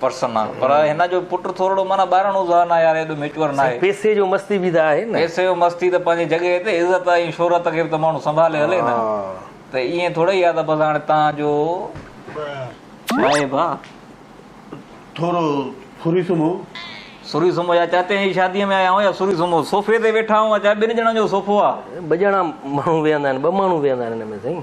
Person آ پر هن جو پٽ ٿورڙو معنيٰ ٻاراڻو ذهن آ يار ايڏو ميچوئر ناهي. پيسي جو مستي به ته آهي نه. پيسي جو مستي ته پنهنجي جڳهه تي عزت ۽ شهرت کي به ته ماڻهو سنڀالي هلي نه ته ائين ٿورئي آ ته بس هاڻي تان جو ڇا اي ڀاء ٿورو سوري سمهو. سوري سمهو يا چاچي جي شادي ۾ آيا آهيون يا سوري سمهو صوفي تي ويٺا آهيون اچا ٻن ڄڻن جو صوفو آ. ٻه ڄڻا ماڻهو ويهندا آهن ٻه ماڻهو ويهندا آهن هن ۾ سائين.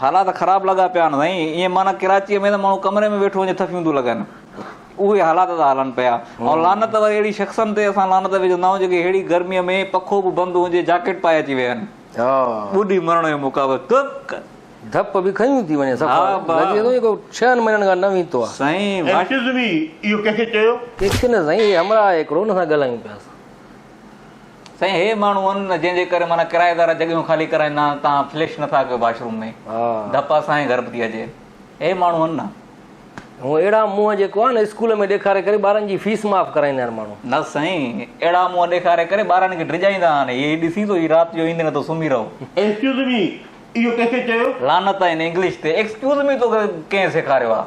حالات خراب لڳا پيا آهن سائين ايئن معنيٰ ڪراچيء ۾ ته ماڻهو ڪمري ۾ ويٺو هجي ٿڦيون ٿيون لڳن اهي حالات ٿا هلن پيا ۽ لعنت وري اهڙي شخصن تي اسان لعنت وجهندا آهيون جيڪي ههڙي گرميء ۾ پکو به بند هجي جاڪيٽ پائي اچي ويهن ٻڏي مرڻ جو مقابلو ڪڪ ڌپ به کنيون ٿي وڃي صفا لڳي ٿو جيڪو ڇهن مهينن کان نه ويتو آهي سائين ايڪسڪيوز مي اهو ڪنهن کي چيو ڪي کي نه سائين هي همراهه آهي هڪڙو ان سان ڳالهايون پيا اسان سائين هي ماڻهو هن نه جنهن جي ڪري معنيٰ ڪرائيدار جڳهيون خالي ڪرائين نه تان فلش نه ٿا ڪيو باشروم ۾ ڌپا سائين گهر ٿي اچي هي ماڻهو هن نه هو اهڙا منهن جيڪو آهي نه اسڪول ۾ ڏيکاري ڪري ٻارن جي فيس معاف ڪرائيندا آهن ماڻهو نه سائين اهڙا منهن ڏيکاري ڪري ٻارن کي ڊڄائيندا آهن هي ڏسي ٿو هي رات جو ايندي نه ٿو سمهي رهو ايڪسڪيوز مي اهو ڪنهن کي چيو لعنت آهي هن انگلش تي ايڪسڪيوز مي توکي ڪنهن سيکاريو آهي.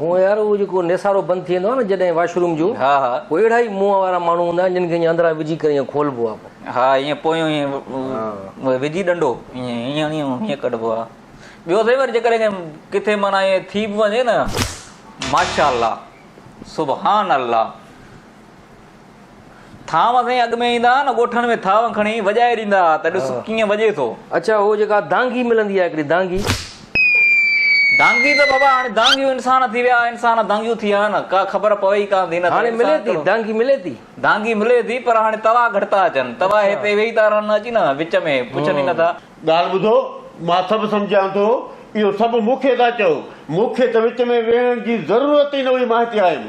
هونء يار اهو جيڪو نيسارو بند ٿي ويندو آهي نه جڏهن واش روم جو ها ها پوء اهڙا ئي منهن وارا ماڻهو هوندا آهن جن کي ائين اندران وجهي ڪري ائين کولبو آهي پوء ها ائين پوء ائين وجهي ڏنڊو ائين ائين ائين ڪڍبو آهي ٻيو سائين وري جيڪڏهن ڪٿي معنيٰ ائين ٿي به وڃي نه ماشاء الله سبحان الله ٿانو اسين اڳ ۾ ايندا ها نه ڳوٺن ۾ ٿانو کڻي وڄائي ڏيندا ها ته ڏس ڪيئن وڄي ٿو. اڇا هو جيڪا دانگي ملندي آهي هڪڙي دانگي. دانگي ته بابا هاڻي دانگيون انسان ٿي ويا انسان دانگيون ٿي ويا نه ڪا خبر پوي ئي ڪانه ٿي نه هاڻي ملي ٿي دانگي ملي ٿي. دانگي ملي ٿي پر هاڻي توا گهٽ ٿا اچن توا هتي ويهي ٿا رهن اچي نه وچ ۾ پڇن ئي نه ٿا. ڳالهه ٻڌو مان سڀ سمجهان ٿو اهو سڀ مون کي ٿا چئو مون کي ته وچ ۾ ويهڻ جي ضرورت ئي نه هئي مان هتي آيم.